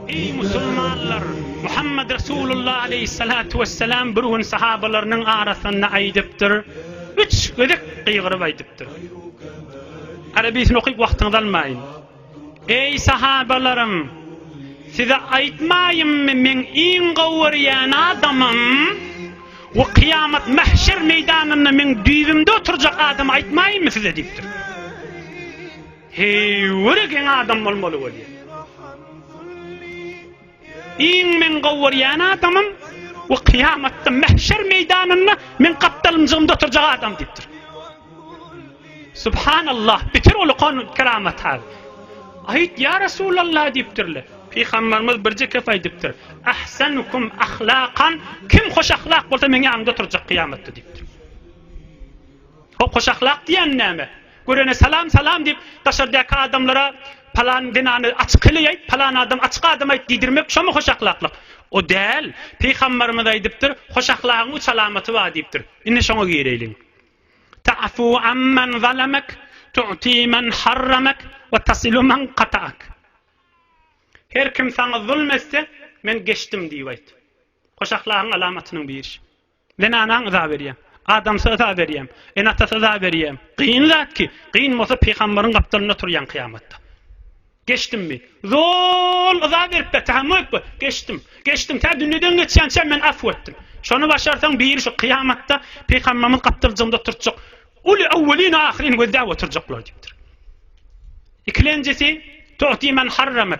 Eý, musulmanlar! Muhammet Resulullah aleýhissalatu wessalam bir gün sahabalarynyň arasynda aýdypdyr, üç gezek gygyryp aýdypdyr. Arabysyny okyp wagtyňyzy almaýyn. Eý, sahabalarym! Size aýtmaýynmy, meň iň gowy görýän adamym we kyýamat mähşer meýdanynda meň düýbümde oturjak adamy aýtmaýynmy size diýipdir. Heýwire geň adam bolmaly bolýar. Iň meň gowy görýän adamym we kyýamatda mähşer meýdanynda meň gapdalymjygymda oturjak adam diýipdir. Subhanallah, bitir ol kon keramat hal. Aýt ýa Resulallah diýipdirler. Pygamberimiz birje kep aýdypdyr. Ahsanukum ahlakan, kim hoş ahlak bolsa meň ýanymda oturjak kyýamatda diýipdir. Hop hoş ahlak diýen näme? Görene salam salam diýip daşardaky adamlara palan zenany açyk heleýaýt, palan adam açyk adamaýt diýdirmek şomy hoş ahlaklyk? O däl, Pygambarymyz aýdypdyr, hoş ahlagyň üç alamaty bar diýipdir. Indi şoňa gireýliň. Ta'fu amman zalamak, tu'ti men harramak we tasilu men kata'ak. Her kim saňa zulm etse, men geçdim diýip aýt. Hoş ahlagyň alamatynyň biri. Zenanaň yza berýär. Adamsa yza berýär. Ene-atasa yza berýär. Kyn zat ki, kyn bolsa pygamberiň gapdalynda turýaň kyýamatda. Geçdimmi? Zol yza berip ber, tahammül et. Geçdim. Geçdim. Tä dünýeden geçýänçäm men afw etdim. Şony başarsaň biri şu kyýamatda pygamberiň gapdaljygynda oturtjak. Uly awwelin we ahyrin gözläp oturjaklar diýipdir. Ikilenjisi, Tu'ti men harramat.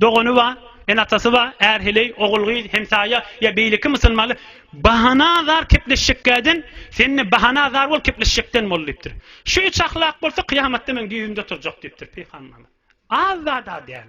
Dogany bar, ene-atasy bar, är-heleý, ogul-gyz, hemsaýa ýa beýleki musulmanlar, Bahana zar kepleşjekkäden, sen-de bahana zar bol kepleşjekden bol diýipdir. Şu üç ahlak bolsa kyýamatda meň düýbümde oturjak diýipdir pygamberimiz. Az zat-a däl.